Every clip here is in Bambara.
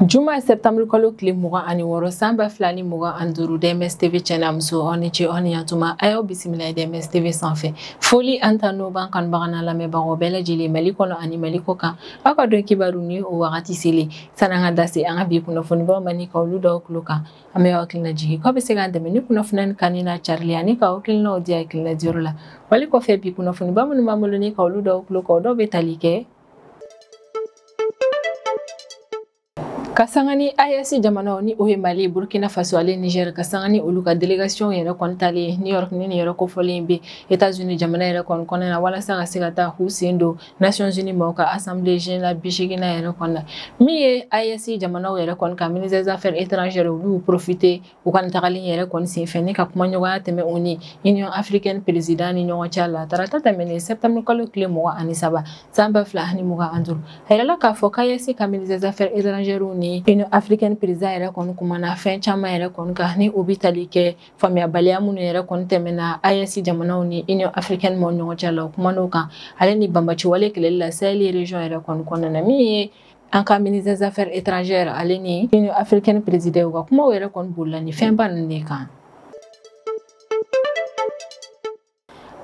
juma sɛptanburu kalo tile mugan ani wɔɔrɔ san ba fila ni mugan ani duuru dms tv cɛ n'a muso aw ni ce aw ni yantuma a y'aw bisimila ye dms tv sanfɛ foli an ta n'o b'an kanubaga n'an lamɛnbagaw bɛɛ lajɛlen mali kɔnɔ ani mali kɔ kan aw ka don kibaru ni o wagati selen san'an ka da se an ka bi kunnafonibaw ma ni ka olu d'aw tulo kan an bɛ hakili lajigin k'aw bɛ se k'an dɛmɛ ni kunnafoni in kanuni n'a carili ani ka hakilinaw di hakilina diyɔrɔ la wale kɔfɛ bi kunnafoniba minnu b'an bolo ni ka olu d'aw tulo kan dɔw bɛ tali kɛ ka sanga ni AES jamanaw ni o ye Mali, Burkina Faso ale Niger ka sanga ni olu ka delegation yɛrɛ kɔni taalen New York ni nin yɔrɔ kofɔlen bɛ Etats-Unis jamana yɛrɛ kɔni kɔnɔna na walasa ka se ka taa k'u sen don Nations Unies mɔgɔw ka Assemblée Générale bi seeginnan yɛrɛ kɔnɔna na min ye AES jamanaw yɛrɛ kɔni ka ministre des affaires étrangères olu y'u profiter u ka nin tagali in yɛrɛ kɔni senfɛ ni ka kumaɲɔgɔnya tɛmɛ u ni Union africaine président ni ɲɔgɔn cɛ la tarata tɛmɛnen septembre kalo tile mugan ani saba san ba fila ani mugan ani duuru a yirala k'a fɔ k'AES ka ministre des affaires étrangères ni Union africaine président yɛrɛ kɔni kumana fɛn caman yɛrɛ kɔni kan ni o bɛ tali kɛ faamuyabaliya minnu yɛrɛ kɔni tɛmɛna AES jamanaw ni Union africaine mɔgɔw ɲɔgɔn cɛ la u kuman'o kan ale ni banbaanciwale kɛlɛli la Sahel region yɛrɛ kɔni kɔnɔna na min ye an ka ministre des affaires étrangères ale ni Union africaine président u ka kumaw yɛrɛ kɔni bolila ni fɛnba ninnu de kan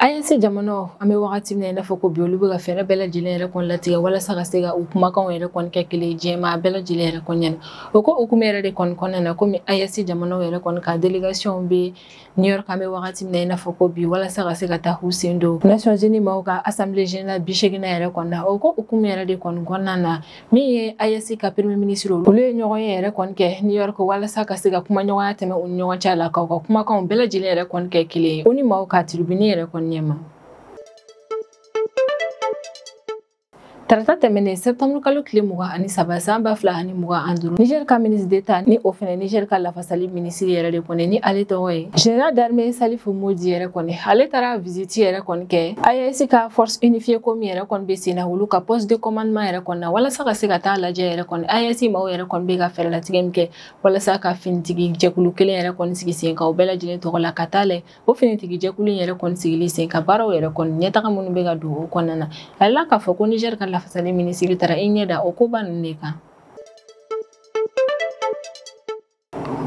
AES jamanaw an bɛ wagati min na i n'a fɔ ko bi olu bɛ ka fɛɛrɛ bɛɛ lajɛlen yɛrɛ kɔni latigɛ walasa ka se ka u kumakanw yɛrɛ kɔni kɛ kelen diɲɛmaa bɛɛ lajɛlen yɛrɛ kɔni ɲɛna o ko hukumu yɛrɛ de kɔni kɔnɔna na komi AES jamanaw yɛrɛ kɔni ka delegasiɔn bɛ new york an bɛ wagati min na i n'a fɔ ko bi walasa ka se ka taa k'u sen don nations unies maaw ka assemblée générale bi seeginnan yɛrɛ kɔni na o ko hukumu yɛrɛ de kɔni kɔnɔna na min ye AES ka premier ministre olu ye ɲɔgɔn ye yɛrɛ kɔni kɛ New York walasa ka se ka kumaɲɔgɔnya tɛmɛ u ni ɲɔgɔn cɛ la k'u ka kumakanw bɛɛ lajɛlen yɛrɛ kɔni kɛ kelen ye ONU maaw ka tiribini yɛrɛ kɔni ɲɛma tarata tɛmɛnen septembre kalo tile mugan ani saba san ba fila ani mugan ani duuru niger ka ministre d'etat ni o fɛnɛ niger ka lafa Sali minisiri yɛrɛ de kɔni ni ale tɔgɔ ye Général d'armée Salifu Modi yɛrɛ kɔni ale taara visite yɛrɛ kɔni kɛ AES ka force unifiée ko min yɛrɛ kɔni bɛ sen na olu ka poste de commandement yɛrɛ kɔni na walasa ka se ka taa lajɛ yɛrɛ kɔni AES maaw yɛrɛ kɔni bɛ ka fɛɛrɛlatigɛ min kɛ walasa ka finitigi jɛkulu kelen yɛrɛ kɔni sigi sen kan u bɛɛ lajɛlen tɔgɔ la ka taa lajɛ o finitigi jɛkulu in yɛrɛ kɔni sigili sen kan baaraw yɛrɛ kɔni ɲɛtaga minnu bɛ ka don o kɔnɔna na a yirala k'a fɔ ko Niger ka lafasali minisiri taara i ɲɛ da o koba ninnu de kan.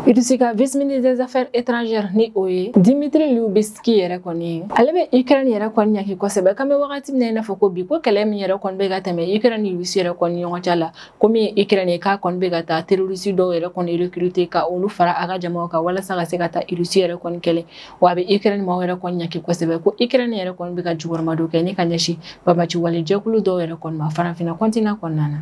Russie ka vice ministre des affaires étrangères ni o ye Dimitri Lubisky yɛrɛ kɔni ye ale bɛ Ukraine yɛrɛ kɔni ɲangi kosɛbɛ k'an bɛ wagati min na i n'a fɔ ko bi ko kɛlɛ min yɛrɛ kɔni bɛ ka tɛmɛ Ukraine ni Russie yɛrɛ kɔni ɲɔgɔn cɛ la ko min ye Ukraine ye k'a kɔni bɛ ka taa terroriste dɔw yɛrɛ kɔni recruter ka olu fara a ka jamaw kan walasa ka se ka taa Russie yɛrɛ kɔni kɛlɛ wa a bɛ Ukraine maaw yɛrɛ kɔni ɲangi kosɛbɛ ko Ukraine yɛrɛ kɔni bɛ ka jukɔrɔmadon kɛ ni ka ɲɛsin banbaanci wale jɛkulu dɔw yɛrɛ kɔni ma farafinna continent kɔnɔna na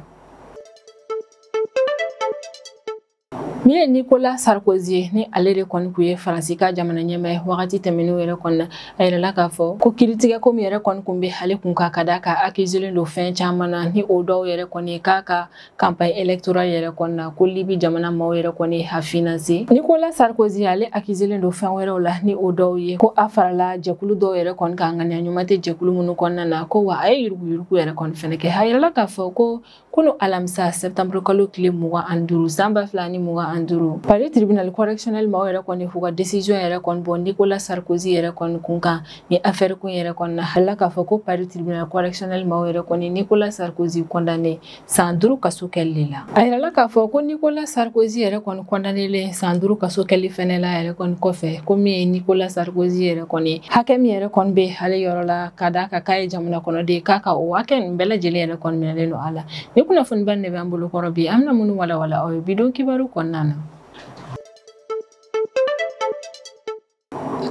Min ye Nicolas Sarkozy ye ni ale de kɔni kun ye Faransi ka jamana ɲɛmaa ye wagati tɛmɛnenw yɛrɛ kɔni na a yirala k'a fɔ ko kiritigɛ ko min yɛrɛ kɔni kun bɛ ale kun ka ka da k'a accuselen don fɛn caman na ni o dɔw yɛrɛ kɔni ye k'a ka campagne électorale yɛrɛ kɔni na ko Libi jamana maaw yɛrɛ kɔni ye a financer Nicolas Sarkozy ale accuselen don fɛn wɛrɛw la ni o dɔw ye ko a farala jɛkulu dɔw yɛrɛ kɔni kan ŋaniya ɲuman tɛ jɛkulu minnu kɔnɔna na ko wa a ye yuruguyurugu yɛrɛ kɔni fɛnɛ kɛ a yirala k'a fɔ ko kunu alamisa septembre kalo tile mugan ani duuru san ba fila ni mugan ani duuru Paris tribunal correctionnel maaw yɛrɛ kɔni f'u ka décision yɛrɛ kɔni bɔ nicolas sarkozy yɛrɛ kɔni kun kan ni affaire kun yɛrɛ kɔni na a yirala k'a fɔ ko Paris tribunal correctionnel maaw yɛrɛ kɔni nicolas sarkozy condamner san duuru kaso kɛli de la a yirala k'a fɔ ko nicolas sarkozy yɛrɛ kɔni condamnelen san duuru kaso kɛli fɛnɛ la yɛrɛ kɔni kɔfɛ ko min ye nicolas sarkozy yɛrɛ kɔni hakɛ min yɛrɛ kɔni bɛ ale yɔrɔ la Ka da a kan k'a ye jamana kɔnɔden ye k'a ka o hakɛ in bɛɛ lajɛlen yɛrɛ kɔni minɛlen don a la nin kunnafoniba nin de b'an bolo kɔrɔ bi an bɛna minnu walawala aw ye bi don kibaru kɔnɔna na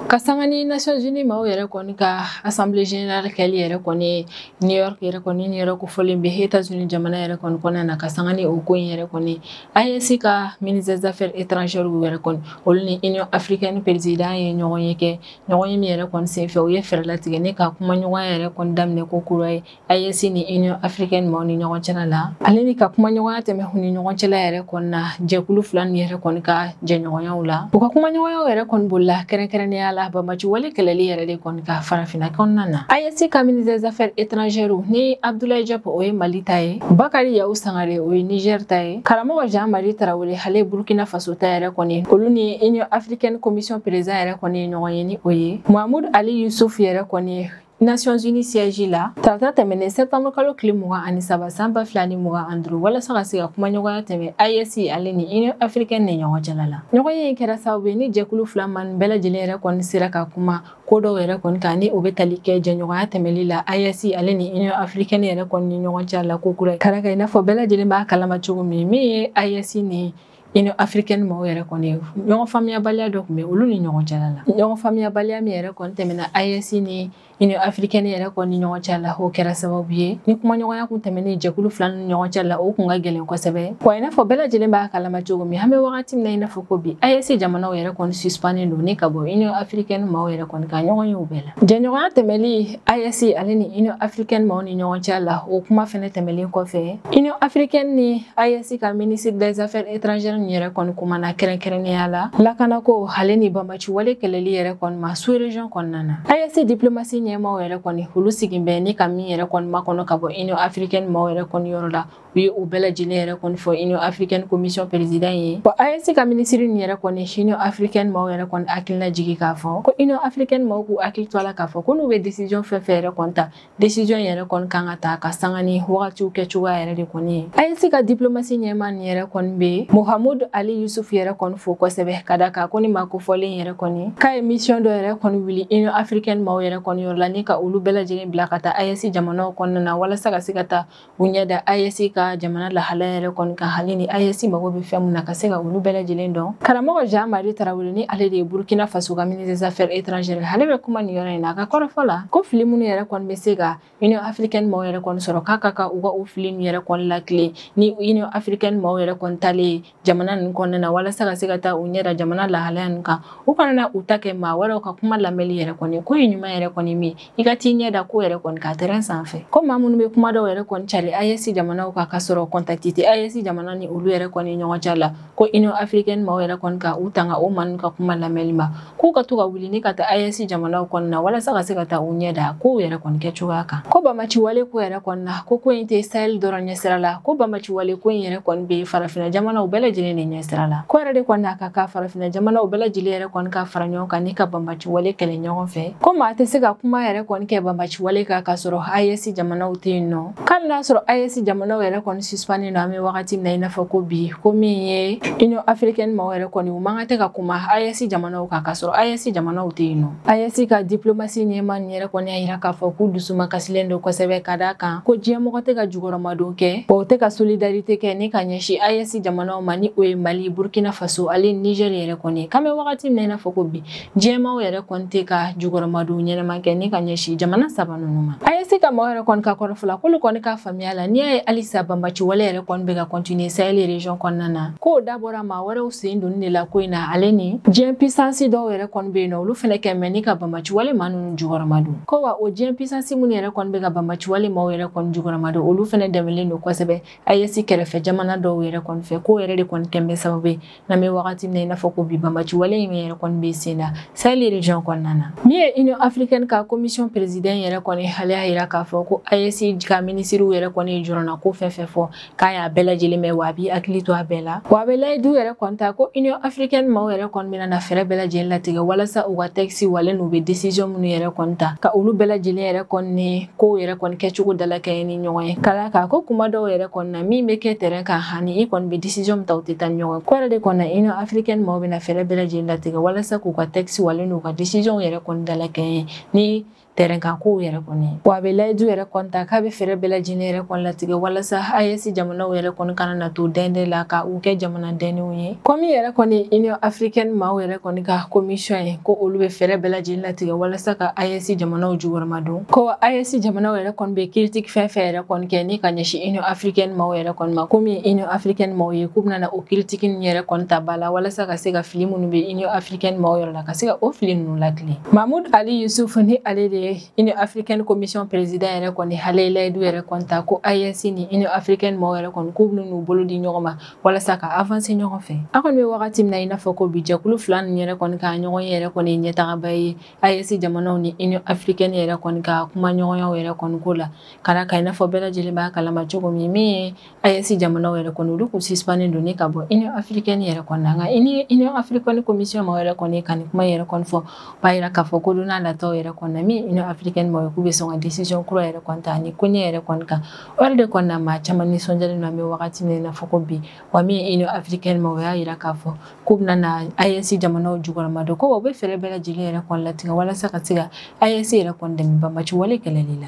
ka sanga ni Nations Unies maaw yɛrɛ kɔni ka Assemblée générale kɛli yɛrɛ kɔni New York New York kofɔlen bɛ États-Unis jamana yɛrɛ kɔni kɔnɔna na ka sanga ni o ko in yɛrɛ kɔni AES ka ministre des affaires étrangères yɛrɛ kɔni olu ni Union africaine président ye ɲɔgɔn ye kɛ ɲɔgɔn ye min yɛrɛ kɔni senfɛ u ye fɛɛrɛ latigɛ ni ka kumaɲɔgɔnya yɛrɛ kɔni daminɛ ko kura ye AES ni Union africaine maaw ni ɲɔgɔn cɛla la ale ni ka kumaɲɔgɔnya tɛmɛ u ni ɲɔgɔn cɛla yɛrɛ kɔni na jɛkulu fila nin yɛrɛ kɔni ka jɛɲɔgɔnyaw la u ka kumaɲɔgɔnyaw yɛrɛ kɔni bolila kɛrɛnkɛrɛnnenya la banbaanci wale kɛlɛli yɛrɛ de kɔni kan farafinna kɔnɔna na AES ka ministre des affaires étrangères ni Abdoulaye Diop o ye Mali ta ye Bakary Yaou Sangaré o ye Niger ta ye Karamoko Jean Marie Traoré ale burkina faso ta yɛrɛ kɔni olu ni union africaine commission président yɛrɛ kɔni ye ɲɔgɔn ye ni o ye Mahmoud Ali Youssouf yɛrɛ kɔni Nations Unies siège la tarata tɛmɛnen septembre kalo tile mugan ani saba san ba fila ni mugan ani duuru walasa ka se ka kumaɲɔgɔnya tɛmɛ AES ale ni Union africaine ni ɲɔgɔn cɛla la ɲɔgɔnye in kɛra sababu ye ni jɛkulu fila maa nin bɛɛ lajɛlen yɛrɛ kɔni sera ka kuma ko dɔw yɛrɛ kɔni kan ni o bɛ tali kɛ jɛɲɔgɔnya tɛmɛli la AES ale ni Union africaine yɛrɛ kɔni ni ɲɔgɔn cɛ la ko kura ye kara kɛ i n'a fɔ bɛɛ lajɛlen b'a kalama cogo min min ye AES ni Union africaine mɔgɔw yɛrɛ kɔni ye ɲɔgɔn faamuyabaliya dɔ tun bɛ olu ni ɲɔgɔn cɛla la ɲɔgɔn faamuyabaliya min yɛrɛ kɔni tɛmɛna AES ni Union africaine yɛrɛ kɔni ni ɲɔgɔn cɛ la o kɛra sababu ye ni kumaɲɔgɔnya kun tɛmɛnen jɛkulu fila ni ɲɔgɔn cɛ la o kun ka gɛlɛn kosɛbɛ wa i n'a fɔ bɛɛ lajɛlen b'a kalama cogo min an bɛ wagati min na i n'a fɔ ko bi AES jamanaw yɛrɛ kɔni suspannen don ni ka bɔ union africaine maaw yɛrɛ kɔni ka ɲɔgɔnyew bɛɛ la jɛɲɔgɔnya tɛmɛli AES ale ni union africaine maaw ni ɲɔgɔn cɛ la o kuma fɛnɛ tɛmɛlen kɔfɛ union africaine ni AES ka ministre des affaires étrangères ni yɛrɛ kɔni kumana kɛrɛnkɛrɛnnenya la lakanako ale ni banbaciwale kɛlɛli yɛrɛ kɔni ma sous région kɔnɔna na AES diplomasi ɲɛmaaw yɛrɛ kɔni olu sigin bɛ ni ka min yɛrɛ kɔni makɔnɔ ka bɔ union africaine maaw yɛrɛ kɔni yɔrɔ la u ye o bɛɛ lajɛlen yɛrɛ kɔni fɔ union africaine commission président ye bon AES ka ministre nin yɛrɛ kɔni union africaine maaw yɛrɛ kɔni hakilina jigi k'a fɔ ko union africaine maaw k'u hakili to a la k'a fɔ ko n'u bɛ décision fɛn fɛn yɛrɛ kɔni ta décision yɛrɛ kɔni kan ka ta ka sanga ni wagatiw kɛcogoya yɛrɛ de kɔni ye AES ka diplomasi ɲɛmaa nin yɛrɛ kɔni bɛ Mahamoud Ali Youssouf yɛrɛ kɔni fo kosɛbɛ ka d'a kan ko ni maa kofɔlen yɛrɛ kɔni k'a ye mission dɔ yɛrɛ kɔni wuli union africaine maaw yɛrɛ kɔni yɔrɔ la ni ka olu bɛɛ lajɛlen bila ka taa AES jamanaw kɔnɔna na walasa ka se ka taa u ɲɛ da AES ka jamana lahalaya yɛrɛ kɔni kan hali ni AES mago bɛ fɛn mun na ka se ka olu bɛɛ lajɛlen dɔn karamɔgɔ Jean Marie Traoré ni ale de ye Burkina Faso ka ministre des affaires étrangères ale bɛ kuma nin yɔrɔ in na a ka kɔrɔfɔ la ko fili minnu yɛrɛ kɔni bɛ se ka Union africaine maaw yɛrɛ kɔni sɔrɔ k'a ka kan u ka o fili ninnu yɛrɛ kɔni lakilen ni Union africaine maaw yɛrɛ kɔni taalen jamana ninnu kɔnɔna na walasa ka se ka taa u ɲɛ da jamana lahalaya ninnu kan u kana na u ta kɛ maa wɛrɛw ka kuma lamɛnli yɛrɛ kɔni ko ye ɲuman yɛrɛ kɔni min i ka t'i ɲɛ da ko yɛrɛ kɔni kan terrain sanfɛ ko maa minnu bɛ kuma dɔw yɛrɛ kɔni cari AES jamanaw kan ka sɔrɔ contact tɛ AES jamana ni olu yɛrɛ kɔni ɲɔgɔn cɛ la ko Union africaine maaw yɛrɛ kɔni ka u tanga o maa ninnu ka kuma lamɛnli ma k'u ka to ka wuli ni ka taa AES jamanaw kɔnɔna na walasa ka se ka taa u ɲɛ da kow yɛrɛ kɔni kɛcogoya kan ko banbaciwale ko yɛrɛ kɔni na ko ko in tɛ sahel dɔrɔn ɲɛsira la ko banbaciwale ko in yɛrɛ kɔni bɛ farafina jamanaw bɛɛ lajɛlen de ɲɛsira la k'o yɛrɛ de kɔni na a ka kan farafina jamanaw bɛɛ lajɛlen yɛrɛ kɔni ka fara ɲɔgɔn kan ni ka banbaciwale kɛlɛ ɲɔgɔn fɛ ko maa tɛ se ka kuma yɛrɛ kɔni kɛ banbaciwale kan k'a sɔrɔ AES jamanaw tɛ yen nɔ K'ali n'a sɔrɔ AES jamanaw yɛrɛ kɔni suspannen don an bɛ wagati min na i n'a fɔ ko bi ko min ye Union africaine maaw yɛrɛ kɔni u man kan tɛ ka kuma AES jamanaw kan k'a sɔrɔ AES jamanaw tɛ yen nɔ AES ka diplomasi ɲɛmaa nin yɛrɛ kɔni y'a yira k'a fɔ k'u dusumakasilen don kosɛbɛ ka d'a kan ko diɲɛmɔgɔ tɛ ka jukɔrɔmadon kɛ wa u tɛ ka solidarité kɛ ni ka ɲɛsin AES jamanaw ma ni o ye Mali Burkina Faso ale Niger yɛrɛ kɔni ye k'an bɛ wagati min na i n'a fɔ ko bi Diɲɛ maaw yɛrɛ kɔni tɛ ka jukɔrɔmadon ɲɛnama kɛ ni ka ɲɛsin jamana saba ninnu ma. AES ka mɔgɔ yɛrɛ kɔni ka kɔrɔfɔ la k'olu kɔni ka faamuya la n'i y'a ye halisa banbaciwale yɛrɛ kɔni bɛ ka continuer Sahel region kɔnɔna na k'o dabɔra maa wɛrɛw sen donni de la ko in na ale ni diɲɛ puissance dɔw yɛrɛ kɔni bɛ yen nɔ olu fɛnɛ kɛ mɛ ni ka banbaciwale maa ninnu jukɔrɔmadon ko wa o diɲɛ puissance minnu yɛrɛ kɔni bɛ ka banbaciwale maaw yɛrɛ kɔni jukɔrɔmadon olu fɛnɛ dɛmɛlen don kosɛbɛ AES kɛrɛfɛ jamana dɔw yɛrɛ kɔni fɛ k'o yɛrɛ de kɔni kɛn bɛ sababu ye n'an bɛ wagati min na i n'a fɔ ko bi banbaciwale in yɛrɛ kɔni bɛ sen na sahel region kɔnɔna na min ye union africaine ka commission président yɛrɛ kɔni ale y'a yira k'a fɔ ko AES ka minisiriw yɛrɛ kɔni ye jɔrɔnanko fɛn fɛn fɔ k'a y'a bɛɛ lajɛlen mɛn wa a b'i hakili to a bɛɛ la wa a bɛ layidu yɛrɛ kɔni ta ko union africaine maaw yɛrɛ kɔni bɛna na fɛɛrɛ bɛɛ lajɛlen latigɛ walasa u ka texte wale n'u bɛ décision minnu yɛrɛ kɔni ta ka olu bɛɛ lajɛlen yɛrɛ kɔni kow yɛrɛ kɔni kɛcogo dalakɛɲɛ ni ɲɔgɔn ye ka d'a kan ko kuma dɔw yɛrɛ kɔni na min bɛ kɛ terrain kan hani i kɔni bɛ décision min ta o tɛ taa ni ɲɔgɔn ye k'o yɛrɛ de kɔni na union africaine maaw bɛna fɛɛrɛ bɛɛ lajɛlen latigɛ walasa k'u ka texte wale n'u ka décisionw yɛrɛ kɔni dalakɛɲɛ ni terrain kan kow yɛrɛ kɔni wa a bɛ layidu yɛrɛ kɔni ta k'a bɛ fɛɛrɛ bɛɛ lajɛlen yɛrɛ kɔni latigɛ walasa AES jamanaw yɛrɛ kɔni kana na to dɛndɛn la ka u kɛ jamana dɛnnenw ye ko min yɛrɛ kɔni union africaine maaw yɛrɛ kɔni ka commission ye ko olu bɛ fɛɛrɛ bɛɛ lajɛlen latigɛ walasa ka AES jamanaw jukɔrɔmadon ko AES jamanaw yɛrɛ kɔni bɛ critique fɛn fɛn yɛrɛ kɔni kɛ ni ka ɲɛsin union africaine maaw yɛrɛ kɔni ma ko min ye union africaine maaw ye k'u bɛna na o critique ninnu yɛrɛ kɔni ta ba la walasa ka se ka fili minnu bɛ union africaine maaw yɔrɔ la ka se ka o fili ninnu latilen mahmoud ali youssouf ni ale de ye union africaine commission président yɛrɛ kɔni ale ye layidu yɛrɛ kɔni ta ko AES ni union africaine maaw yɛrɛ kɔni k'u bɛna n'u bolo di ɲɔgɔn ma walasa ka avancer ɲɔgɔn fɛ an kɔni bɛ wagati min na i n'a fɔ ko bi jɛkulu fila nin yɛrɛ kɔni ka ɲɔgɔnye yɛrɛ kɔni ye ɲɛtagaba ye AES jamanaw ni union africaine yɛrɛ kɔni ka kumaɲɔgɔnyaw yɛrɛ kɔni ko la ka d'a kan i n'a fɔ bɛɛ lajɛlen b'a kalama cogo min min ye AES jamanaw yɛrɛ kɔni olu kun sispannen don ni ka bɔ union africaine yɛrɛ kɔni na nka union africaine commission maaw yɛrɛ kɔni ka nin kuma yɛrɛ kɔni fɔ b'a yira k'a fɔ ko don nataw yɛrɛ kɔni na min union africaine maaw ye k'u bɛ sɔn ka décision kura yɛrɛ kɔni ta nin koɲɛ yɛrɛ kɔni kan O yɛrɛ de kɔnɔna na maa caman nisɔndiyalen don an bɛ wagati min n'a fɔ ko bi wa min ye Union africaine maaw y'a jira k'a fɔ k'u bɛna na AES jamanaw jukɔrɔmadon ko wa u bɛ fɛɛrɛ bɛɛ lajɛlen yɛrɛ kɔni latigɛ walasa ka se ka AES yɛrɛ kɔni dɛmɛ banbaci wale kɛlɛli la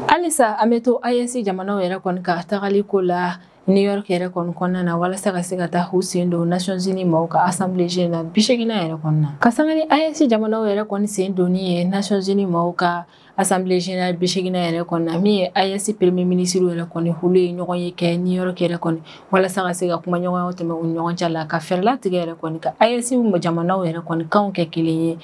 halisa an bɛ to AES jamanaw yɛrɛ kɔni ka tagali ko la New York yɛrɛ kɔni kɔnɔna na walasa ka se ka taa u sen don Nations Unies maaw ka Assemblée Générale na biseeginnan yɛrɛ kɔnɔna ka sanga ni AES jamanaw yɛrɛ kɔni sen donni ye Nations Unies maaw ka Assemblée Générale biseeginnan yɛrɛ kɔnɔ min ye AES premier minisiri yɛrɛ kɔni olu ye ɲɔgɔn ye kɛ New York yɛrɛ kɔnɔ walasa ka se ka kumaɲɔgɔnya tɛmɛ u ɲɔgɔn cɛ la ka fɛɛrɛ latigɛ yɛrɛ kɔni ka AES jamanaw yɛrɛ kɔni kan kɛ kelen ye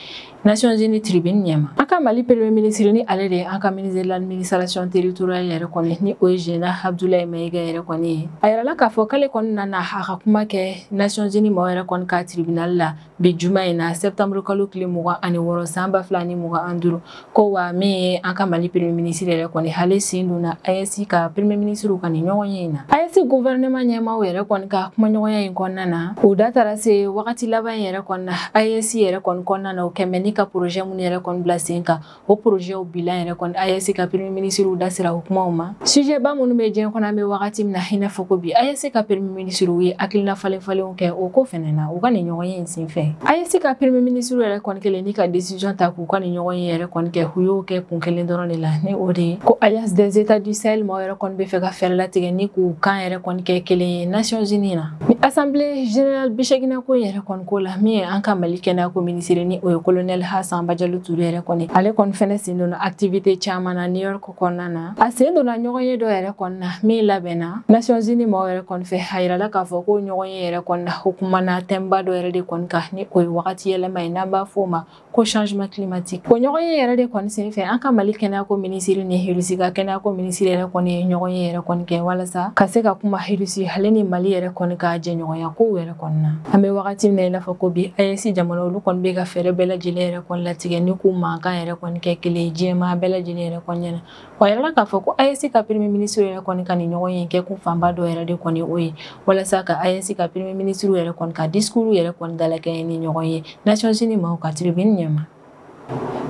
Nations Unies tribune ɲɛma an ka Mali premier minisiri ni ale de ye an ka ministre de l'administration territoriale yɛrɛ kɔni ni o ye Général Abdoulaye Maïga yɛrɛ kɔni ye a yirala k'a fɔ k'ale kɔni nana a ka kuma kɛ Nations Unies maaw yɛrɛ kɔni ka tribunal la bi juma in na septembre kalo tile mugan ani wɔɔrɔ san ba fila ni mugan an duuru ko wa min ye an ka mali premier ministre yɛrɛ kɔni ale sen donna ayɛsi ka premier ministre ka nin ɲɔgɔn ye in na ayɛsi gouvernement ɲɛmaaw yɛrɛ kɔni ka kumaɲɔgɔnya in kɔnɔna na o da taara se wagati laban in yɛrɛ kɔnɔna ayɛsi yɛrɛ kɔni kɔnɔna na o kɛmɛ ni ka projet minnu yɛrɛ kɔni bila sen kan o porozɛw bilan yɛrɛ kɔni AES ka peremi minisiriw da sera o kumaw ma sujɛba minnu bɛ diɲɛ kɔnɔ an bɛ wagati min na i n'a fɔ ko bi AES ka peremi minisiriw ye hakilina falenfalenw kɛ o ko fɛnɛ na u ka nin ɲɔgɔn ye in senfɛ AES ka peremi minisiriw yɛrɛ kɔni kelen ni ka desizɔn ta k'u ka nin ɲɔgɔn ye yɛrɛ kɔni kɛ u y'o kɛ kun kelen dɔrɔn de la ni o de ye ko alliance des états du sahel maaw yɛrɛ kɔni bɛ fɛ ka fɛɛrɛ latigɛ ni k'u kan yɛrɛ kɔni kɛ kelen ye nations unies na ni assemblée générale biseeginnan ko yɛrɛ kɔni ko la min ye an ka mali kɛnɛyako minisiri ni o ye kolonɛli assa badiallo touré yɛrɛ kɔni ale kɔni fɛnɛ sen donna activité caman na new york kɔnɔna na a sen donna ɲɔgɔn ye dɔ yɛrɛ kɔni na min labɛnna nations unies mɔgɔw yɛrɛ kɔni fɛ a yirala k'a fɔ ko ɲɔgɔn ye yɛrɛ kɔni na o kumana thème ba dɔ yɛrɛ de kɔni kan ni o ye wagati yɛlɛma ye n'an b'a fɔ o ma ko changement climatique o ɲɔgɔn ye yɛrɛ de kɔni senfɛ an ka mali kɛnɛyako minisiri ni irisi ka kɛnɛyako minisiri yɛrɛ kɔni ye ɲɔgɔn ye yɛrɛ kɔni kɛ walasa ka se ka kuma irisi ale ni mali yɛrɛ kɔni ka jɛɲɔgɔnya kow yɛrɛ kɔni na an bɛ wagati min na i n'a fɔ ko bi ayɛsi jamana olu kɔni bɛ ka fɛɛrɛ bɛɛ lajɛlen yɛrɛ kɔni latigɛ ni k'u mankan yɛrɛ kɔni kɛ kelen ye diɲɛmaa bɛɛ lajɛlen yɛrɛ kɔni ɲɛna Wa a yirala k'a fɔ ko AES ka premier ministre yɛrɛ kɔni ka nin ɲɔgɔn ye in kɛ kun fanba dɔ yɛrɛ de kɔni o ye walasa ka AES ka premier ministre yɛrɛ kɔni ka discours yɛrɛ kɔni dalakɛɲɛ ni ɲɔgɔn ye Nations Unies maaw ka tribune ɲɛma.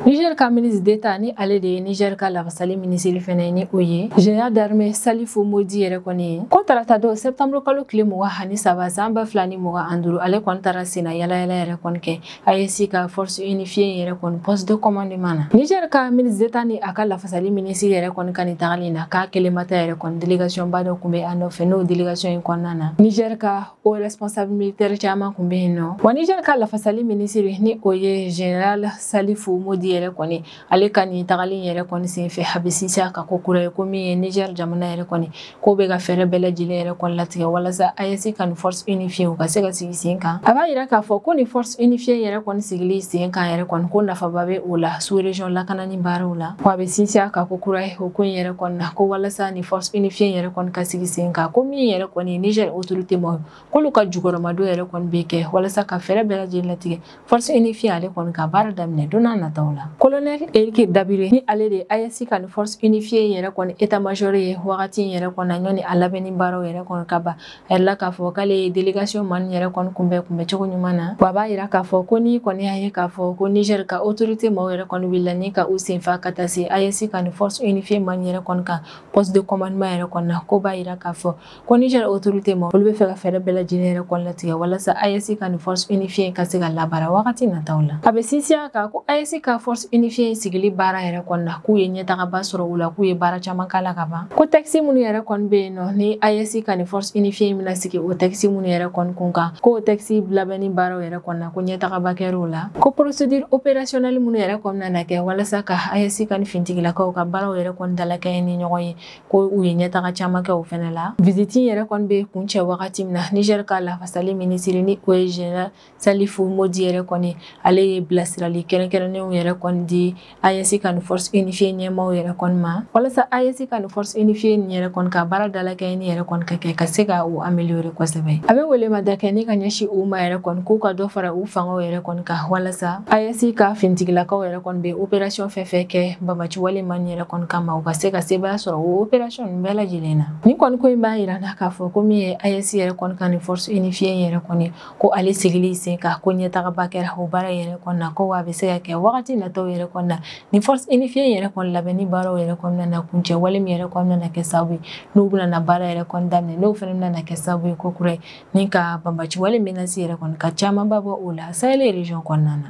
Niger ka ministre d'Etat ni ale de ye Niger ka lafasali minisiri fɛnɛ ye ni o ye général d'armée Salifou Mody yɛrɛ kɔni ye ko tarata don septembre kalo tile mugan ani saba san ba fila ni mugan ani duuru ale kɔni taara senna yalayala yɛrɛ kɔni kɛ AES ka force unifiée in yɛrɛ kɔni poste de commandement na niger ka ministre d'état ni a ka lafasali minisiri yɛrɛ kɔni ka nin tagali na k'a kelen ma taa yɛrɛ kɔni délégation ba dɔ kun bɛ a nɔfɛ n'o délégation in kɔnɔna na niger ka o responsable militaire caman kun bɛ yen nɔ wa niger ka lafasali minisiri ni o ye général salifou mody yɛrɛ kɔni ale ka nin tagali yɛrɛ kɔni senfɛ a bɛ sinsin a kan kokura ye ko min ye niger jamana yɛrɛ kɔni k'o bɛ ka fɛɛrɛ bɛɛ lajɛlen yɛrɛ kɔni latigɛ walasa AES ka nin force unifiée u ka se ka sigi sen kan a b'a yira k'a fɔ ko nin force unifiée yɛrɛ kɔni sigili sen kan yɛrɛ kɔni ko nafaba bɛ o la sous région lakanani baaraw la ko a bɛ sinsin a kan kokura ye o ko in yɛrɛ kɔni na ko walasa nin force unifiée yɛrɛ kɔni ka sigi sen kan ko min yɛrɛ kɔni niger autorité maaw k'olu ka jukɔrɔmadon yɛrɛ kɔni bɛ kɛ walasa ka fɛɛrɛ bɛɛ lajɛlen latigɛ Force unifiée ale kɔni ka baara daminɛ don n'a nataw la colonel Eric Dabiré ni ale de ye AES ka ni force unifiée in yɛrɛ kɔni état major ye wagati in yɛrɛ kɔni na ɲɔni a labɛnni baaraw yɛrɛ kɔni ka ban a yirala k'a fɔ k'ale ye délégation maaw yɛrɛ kɔni kunbɛn kunbɛn cogo ɲuman na wa a b'a yira k'a fɔ ko ni kɔni y'a ye k'a fɔ ko Niger ka autorité maaw yɛrɛ kɔni wulila ni ka u senfa ka taa se AES ka ni force unifiée maaw yɛrɛ kɔni ka poste de commandement yɛrɛ kɔnɔna k'o b'a yira k'a fɔ Ko Niger autorité maaw olu bɛ fɛ ka fɛɛrɛ bɛɛ lajɛlen yɛrɛ kɔni latigɛ walasa AES ka ni force unifiée ka se ka labaara wagati nataw la a bɛ sinsin a kan ko AES ka force unifiée sigili baara yɛrɛ kɔni na k'u ye ɲɛtagaba sɔrɔ o la k'u ye baara caman k'a la ka ban ko texte minnu yɛrɛ kɔni bɛ yen nɔ ni AES ka ni force unifiée bɛna sigi o texte minnu yɛrɛ kɔni kun kan k'o texte labɛnni baaraw yɛrɛ kɔni na ko ɲɛtagaba kɛra o la ko procédure opérationnelle minnu yɛrɛ kɔni nana kɛ walasa ka AES ka ni finitigilakaw ka baaraw yɛrɛ kɔni dalakɛɲɛ ni ɲɔgɔn ye ko u ye ɲɛtaga caman kɛ o fɛnɛ la visite yɛrɛ kɔni bɛ kuncɛ wagati min na Niger ka lafasali minisiri ni o ye général Salifou Modi yɛrɛ kɔni ale ye bilasirali kɛrɛnkɛrɛnnenw yɛrɛ kɔni di AES ka ni force unifiée ɲɛmaaw yɛrɛ kɔni ma walasa AES ka ni force unifiée nin yɛrɛ kɔni ka baara dalakɛɲɛni yɛrɛ kɔni ka kɛ ka se ka u améliorer kosɛbɛ a bɛ welemada kɛ ni ka ɲɛsin u ma yɛrɛ kɔni k'u ka dɔ fara u fangaw yɛrɛ kɔni kan walasa AES ka finitigilakaw yɛrɛ kɔni bɛ opération fɛn fɛn kɛ banbaanci wale maaw yɛrɛ kɔni kama u ka se ka sebaaya sɔrɔ o opération ninnu bɛɛ lajɛlen na ni kɔni ko in b'a yira an na k'a fɔ ko min ye AES yɛrɛ kɔni ka nin force unifiée in yɛrɛ kɔni ko ale sigili sen kan ko ɲɛtagaba kɛra o baara yɛrɛ kɔni na ko wa a bɛ se ka kɛ wagati nataw yɛrɛ kɔni na nin force unifiée in yɛrɛ kɔni labɛnni baaraw yɛrɛ kɔni nana kuncɛ wale min yɛrɛ kɔni nana kɛ sababu ye n'u bɛna na baara yɛrɛ kɔni daminɛ n'o fana bɛna na kɛ sababu ye ko kura ye ni ka banbaanci wale menace yɛrɛ kɔni ka camanba bɔ o la Sahel région kɔnɔna na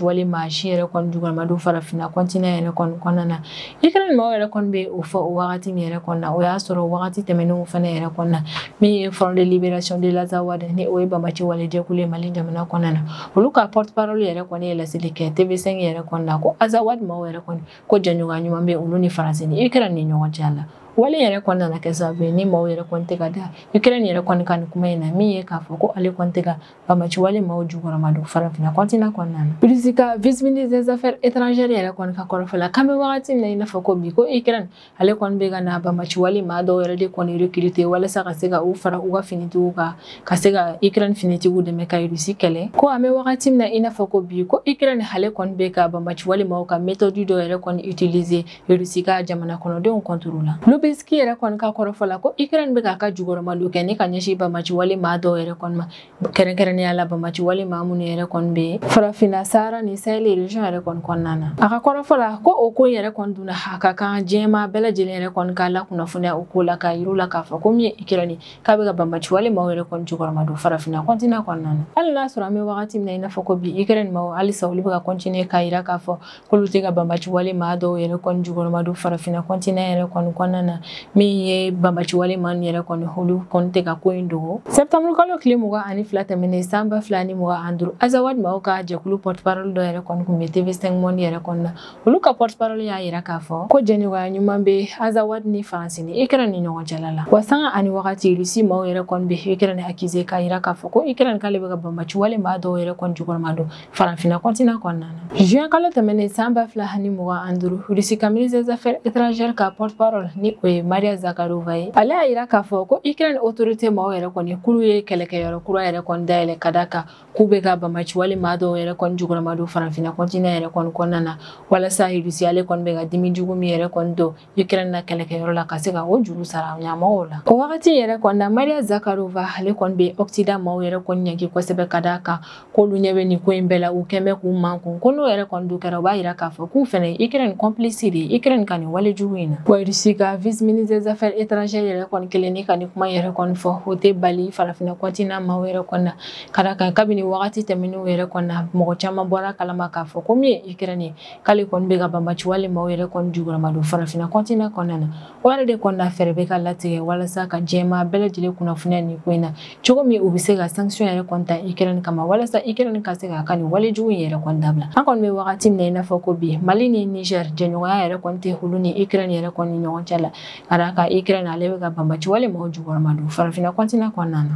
Wale maa si yɛrɛ kɔni jukɔrɔma don farafinna continent yɛrɛ kɔni kɔnɔna na Ukraine mɔgɔw yɛrɛ kɔni bɛ o fɔ o wagati min yɛrɛ kɔnɔna na o y'a sɔrɔ wagati tɛmɛnenw fana yɛrɛ kɔnɔna na min ye Front de libération de l'Azawad ni o ye banbaanci wale jɛkulu ye Mali jamana kɔnɔna na olu ka porte-parole yɛrɛ kɔni ye laseli kɛ TV5 yɛrɛ kɔnɔna na ko Azawad mɔgɔw yɛrɛ kɔni ko jɛɲɔgɔnya ɲuman bɛ olu ni France ni Ukraine ni ɲɔgɔn cɛ la wale yɛrɛ kɔni nana kɛ sababu ye ni maaw yɛrɛ kɔni tɛ ka da Ukraine yɛrɛ kɔni ka nin kuma in na min ye k'a fɔ ko ale kɔni tɛ ka Banbaanci wale maaw jukɔrɔma don farafinna continent kɔnɔna na Russie ka vice-ministre des affaires étrangères yɛrɛ kɔni ka kɔrɔfɔ la k'an bɛ wagati min na i n'a fɔ ko bi ko ukraine ale kɔni bɛ ka na banbaanci wale maa dɔw yɛrɛ de kɔni recruter walasa ka se ka u fara u ka finitigiw kan ka se ka ukraine finitigiw dɛmɛ ka Russie kɛlɛ ko an bɛ wagati min na i n'a fɔ ko bi ko ukraine ale kɔni bɛ ka banbaanci wale maaw ka méthode dɔw yɛrɛ kɔni utiliser Irisi ka jamana kɔnɔdenw contre la Lyubinski yɛrɛ kɔni ka kɔrɔfɔ la ko Ukraine bɛ k'a ka jukɔrɔmadon kɛ ni ka ɲɛsin banbaanci wale maa dɔw yɛrɛ kɔni ma kɛrɛnkɛrɛnnenya la banbaanci wale maa minnu yɛrɛ kɔni bɛ farafinna Sahara ni Sahel région yɛrɛ kɔni kɔnɔna na a ka kɔrɔfɔ la ko o ko yɛrɛ kɔni dun a ka kan diɲɛma bɛɛ lajɛlen yɛrɛ kɔni ka lakunnafoniya o ko la k'a yira u la k'a fɔ ko min ye Ukraine k'a bɛ ka banbaanci wale maaw yɛrɛ kɔni jukɔrɔma don farafinna continent kɔnɔna na hali n'a sɔrɔ an bɛ wagati min na i n'a fɔ ko bi Ukraine maaw halisa olu bɛ ka continuer k'a jira k'a fɔ k'olu tɛ ka banbaciwale maa dɔw yɛrɛ kɔni jukɔrɔma don farafinna kɔntinɛ yɛrɛ kɔni kɔnɔna na min ye banbaciwale maaw yɛrɛ kɔni olu kɔni tɛ ka ko in dogo sɛptamuru kalo tile mugan ani fila tɛmɛnen san ba fila ni mugan ani duuru azawadi maaw ka jɛkulu pɔtiparɔli dɔ yɛrɛ kɔni kun bɛ TV5 Monde yɛrɛ kɔni na olu ka pɔtiparɔli y'a yira k'a fɔ ko jɛɲɔgɔnya ɲuman bɛ azawadi ni faransi ni ikɛrɛn ni ɲɔgɔn cɛla la wa sanga ani wagati rusi maaw yɛrɛ kɔni bɛ ikɛrɛn akize k'a yira k'a fɔ ko ikɛrɛn k'ale bɛ ka banbaciwale maa dɔw yɛrɛ kɔni jukɔrɔma don Farafinna continent kɔnɔna na. Juin kalo tɛmɛnen san ba fila ani mugan ani duuru, Russie ka ministre des affaires étrangères ka porte-parole ni o ye Maria Zakharova ye, ale y'a yira k'a fɔ ko Ukraine autorité maaw yɛrɛ kɔni k'olu ye kɛlɛkɛyɔrɔ kura yɛrɛ kɔni dayɛlɛ ka d'a kan k'u bɛ ka banbaci wale maa dɔw yɛrɛ kɔni jukɔrɔma don Farafinna continent yɛrɛ kɔni kɔnɔna na walasa Russie ale kɔni bɛ ka dimi jugu min yɛrɛ kɔni don ikrɛn na kɛlɛkɛyɔrɔ la ka se ka o juru sara ɲɛmɔgɔw la o wagati yɛrɛ kɔni na mariya zakarova ale kɔni bɛ occident maaw yɛrɛ kɔni ɲɛgi kosɛbɛ ka d'a kan k'olu ɲɛ bɛ nin ko in bɛɛ la u kɔni bɛ k'u mankun ko n'o yɛrɛ kɔni dun kɛra u b'a yira k'a fɔ k'u fɛnɛ ikrɛn kɔnpilisi de ye ikrɛn ka nin wale jugu in na wa rusi ka vice ministre des affaires étrangères yɛrɛ kɔni kɛlen ni ka nin kuma yɛrɛ kɔni fɔ o tɛ bali farafinna kɔntinan maaw yɛrɛ kɔni na ka d'a kan kabini wagati tɛmɛnenw yɛrɛ kɔni na mɔgɔ caman bɔra kalama k'a fɔ ko min ye ikrɛn ye k'ale kɔni bɛ ka banbaci wale maaw yɛrɛ kɔni jukɔrɔma don farafinna continent kɔnɔna na o yɛrɛ de kɔnɔna fɛɛrɛ bɛ ka latigɛ walasa ka diɲɛ maa bɛɛ lajɛlen kunnafoniya nin ko in na cogo min u bɛ se ka sanction yɛrɛ kɔni ta Ukraine kama walasa Ukraine ka se k'a ka nin wale jugu in yɛrɛ kɔni dabila an kɔni bɛ wagati min na i n'a fɔ ko bi Mali ni Niger jɛɲɔgɔnya yɛrɛ kɔni tɛ olu ni Ukraine yɛrɛ kɔni ni ɲɔgɔn cɛ la ka d'a kan Ukraine ale bɛ ka banbaci wale maaw jukɔrɔma don farafinna continent kɔnɔna na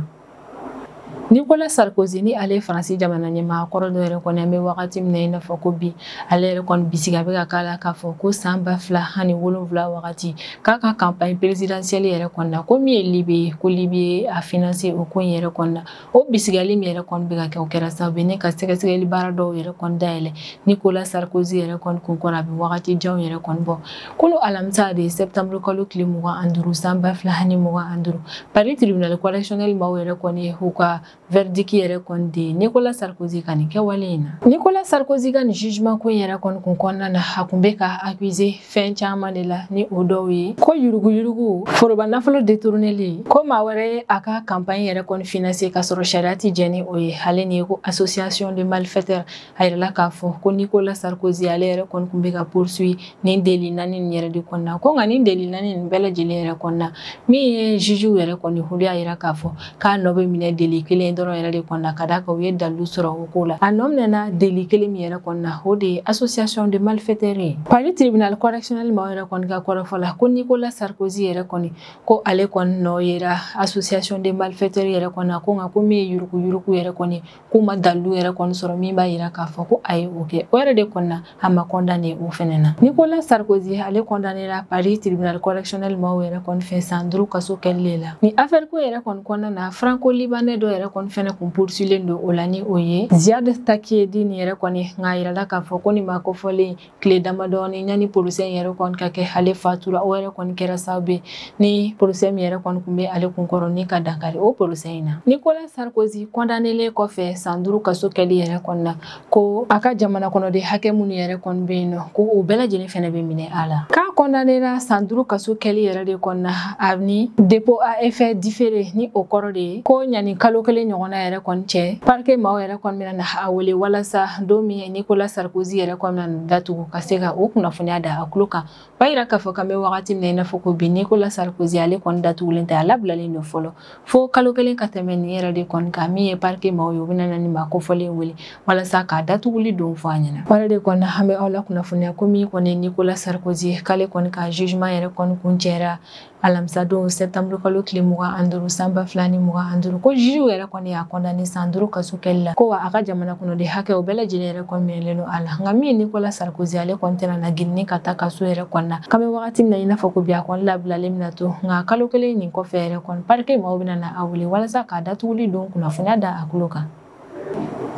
Nicolas Sarkozy ni ale ye Faransi jamana ɲɛmaa kɔrɔ dɔ yɛrɛ kɔni an bɛ wagati min na i n'a fɔ ko bi ale yɛrɛ kɔni bisigiya bɛ ka k'a la k'a fɔ ko san ba fila ani wolonwula wagati k'a ka campagne présidentielle yɛrɛ kɔni na ko min ye Libi ye ko Libi ye a financer o ko in yɛrɛ kɔni na o bisigiyali min yɛrɛ kɔni bɛ ka kɛ o kɛra sababu ye ne ka sɛgɛsɛgɛli baara dɔw yɛrɛ kɔni dayɛlɛ Nicolas Sarkozy yɛrɛ kɔni kun kɔrɔ a bɛ wagati janw yɛrɛ kɔni bɔ kunun alamisa de sɛptanburu kalo tile mugan ani duuru san ba fila ni mugan ani duuru paris tribunal correctionnel maaw yɛrɛ kɔni ye u ka verdict yɛrɛ kɔni di nicolas sarkozy ka nin kɛwale in na nicolas sarkozy ka nin jugement ko in yɛrɛ kɔni kun kɔnɔna na a kun bɛ ka accuser fɛn caman de la ni o dɔw ye ko yuruguyurugu foroba nafolo détourneli ko maa wɛrɛ ye a ka campagne yɛrɛ kɔni financer k'a sɔrɔ sariya tɛ jɛn ni o ye ale ni ko association de malfaiteurs a yirala k'a fɔ ko nicolas sarkozy ale yɛrɛ kɔni kun bɛ ka poursuivre nin délit naani nin yɛrɛ de kɔnɔna ko nka nin délit naani nin bɛɛ lajɛlen yɛrɛ kɔnɔna min ye jugew yɛrɛ kɔni olu y'a yira k'a fɔ k'a nɔ bɛ minɛ délit kelen dɔrɔn yɛrɛ de kɔnɔna ka d'a kan u ye dalilu sɔrɔ o ko la a nɔ minɛna délit kelen min yɛrɛ kɔnɔna o de ye association de malfaiteurs ye paris tribunal correctionnel maaw yɛrɛ kɔni ka kɔrɔfɔ la ko nicolas sarkozy yɛrɛ kɔni ko ale kɔni nɔ yera association de malfaiteurs yɛrɛ kɔnɔna ko nka ko min ye yuruguyurugu yɛrɛ kɔni k'u ma dalilu yɛrɛ kɔni sɔrɔ min b'a yira k'a fɔ ko a ye o kɛ o yɛrɛ de kɔnɔna a ma kɔndane o fɛnɛ na nicolas sarkozy ale kɔndanela paris tribunal correctionnel maw yɛrɛ kɔni fɛ san duru kaso kɛli le la ni afɛri ko yɛrɛ kɔni kɔnɔna na franco libanais dɔ yɛrɛ kɔni fɛnɛ kun poursuilen don o la ni o ye ziad takieddine yɛrɛ kɔni nka yirala k'a fɔ ko ni ma kofɔlen tile damadɔɔni ɲani porosɛ in yɛrɛ kɔni ka kɛ ale fatura o yɛrɛ kɔni kɛra sababu ye ni porosɛ min yɛrɛ kɔni kun be ale kunkɔrɔ ni ka dankari o porosɛ in na nicolas sarkozy kɔndanelen kɔfɛ san duru kaso kɛli yɛrɛ kɔni na ko a ka jamana kɔnɔden hakɛ minnu yɛrɛ kɔni be yen nɔ ko o bɛɛ lajɛlen fɛnɛ be minɛ a la k'a kɔndanela san duru kaso kɛli yɛrɛ de kɔni na a ni dépôt à effet différé ni o kɔrɔ de ye ko ɲani kalo kelen ɲɔgɔnna yɛrɛ kɔni cɛ parke maw yɛrɛ kɔni a wele walasa don min nicolas sarkozy yɛrɛ kɔni bɛna na datugu ka se ka o kunnafoniya da a tulo kan b'a yira k'a fɔ k'an bɛ wagati min na i n'a fɔ ko bi nicolas sarkozy ale kɔni datugulen tɛ a labilalen don fɔlɔ fo kalo kelen ka tɛmɛ nin yɛrɛ de kɔni kan min ye parike maaw ye u bɛna na ni maa kofɔlen wele walasa k'a datuguli don fɔ a ɲɛna wale de kɔni an bɛ aw la kunnafoniya ko min kɔni nicolas sarkozy k'ale kɔni ka jugement yɛrɛ kɔni kuncɛra alamisadon sɛtanburu kalo tile mugan an duuru san ba fila ni mugan an duuru ko jugew yɛrɛ kɔni y'a kɔndane san duuru kaso kɛli la ko wa a ka jamana kɔnɔden hakɛ o bɛɛ lajɛlen yɛrɛ kɔni minɛlen don a la nka min nicolas sarkozy ale kɔni tɛna na girinni ka taa kaso yɛrɛ kɔni na k'an bɛ wagati min na i n'a fɔ ko bi a kɔni labilalen bɛna to nka kalo kelen nin kɔfɛ yɛrɛ kɔni parike maaw bɛna na a wele walasa k'a datuguli don kunnafoniya da a tulo kan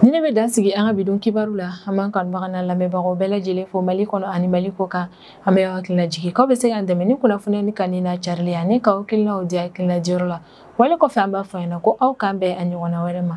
Ni ne bɛ dan sigi an ka bi don kibaru la an b'an kanubaga n'an lamɛnbagaw bɛɛ lajɛlen fo Mali kɔnɔ ani Mali kɔ kan an bɛ aw hakilina jigin k'aw bɛ se k'an dɛmɛ ni kunnafoniya ni kanuni n'a carili ani k'aw hakilinaw di hakilina diyɔrɔ la wale kɔfɛ an b'a fɔ a ɲɛna ko aw k'an bɛn a ɲɔgɔnna wɛrɛ ma